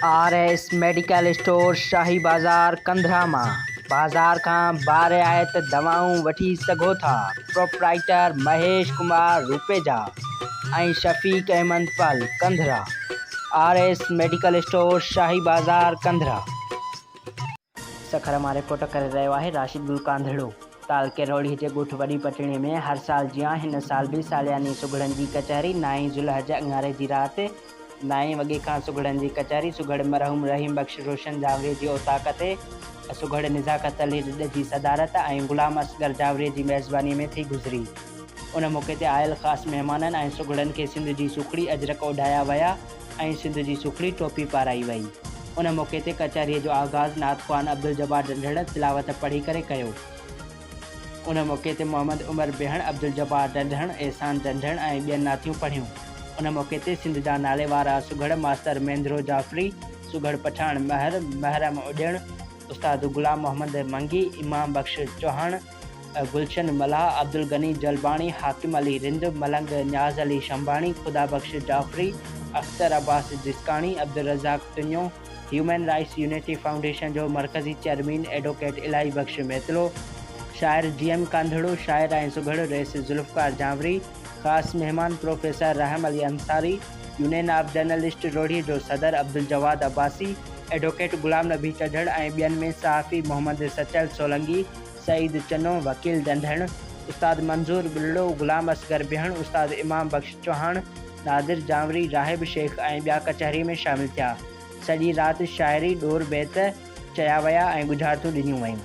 R S medical store Shahi بازار ڪنڌرا مان بازار کان بارعايت دوائون وٺي سگهو ٿا proprietor Mahesh Kumar Rupeja ۽ Shafiq Ahmed Pul Kandhra R S medical store Shahi بازار ڪنڌرا. سکر مان رپورٽ ڪري رهيو آهي راشد گل ڪانڌڙو. تعلقي روهڙي جي ڳوٺ وڏي پٽڻي ۾ هر سال جيان هن سال به سالياني سگهڙن جي ڪچهري نائين ذوالحج اڱاري جي رات نائين وڳي کان سگهڙن جي ڪچهري سگهڙ مرحوم رحيم بخش روشن جاوري جي اوطاق تي سگهڙ نزاڪت علي ڏڏ جي صدارت ۽ غلام اصغر جاوري جي ميزباني ۾ ٿي گذري. ان موقعي تي آيل خاص مهمانن ۽ سگهڙن کي سنڌ جي سکڙي اجرڪ اوڍايا ويا ۽ سنڌ جي سکڙي ٽوپي پارائي وئي. ان موقعي تي ڪچهريء جو آغاز نعت خوان عبدالجبار ڏنڍڙ تلاوت پڙهي ڪري ڪيو. ان موقعي تي محمد عمر بيهڻ، عبدالجبار ڏنڍڻ، احسان ڏنڍڻ ۽ ٻين نعتيون پڙهيون. ان موقعي تي سنڌ جا ناليوارا سگهڙ ماستر مينڌرو جعفري، سگهڙ پٺاڻ مهر، محرم اڏيڻ، استاد غلام محمد منگي، امام بخش چوهاڻ، گلشن ملاح، عبدالغني جلباڻي، حاڪم علي رند، ملنگ نياز Ali Shanbani, Khuda Bux Jafri, Akhtar Abbas Jaskani, Abdul Razzaq Tunio, human rights unity foundation جو مرڪزي چيئرمين ايڊوڪيٽ الاهي بخش ميتلو، شاعر جي ايم ڪانڌڙو، شاعر ۽ سگهڙ رئيس ذوالفقار جانوري، خاص مهمان professor Rahim Ali Ansari, union of journalist Rohri جو صدر عبدالجواد عباسي، ايڊوڪيٽ غلام نبي چڍڙ ۽ ٻين ۾ صحافي محمد سچل سولنگي، سعيد چنو، وڪيل ڏنڍڻ، استاد منظور ٻلڙو، غلام اصغر بهڻ، استاد امام بخش چوهاڻ، نادر جانوري، راهب شيخ ۽ ٻيا ڪچهري ۾ شامل ٿيا. سڄي رات شاعري، ڏور بيت چيا ويا ۽ ڳجهارتون ڏنيون ويون.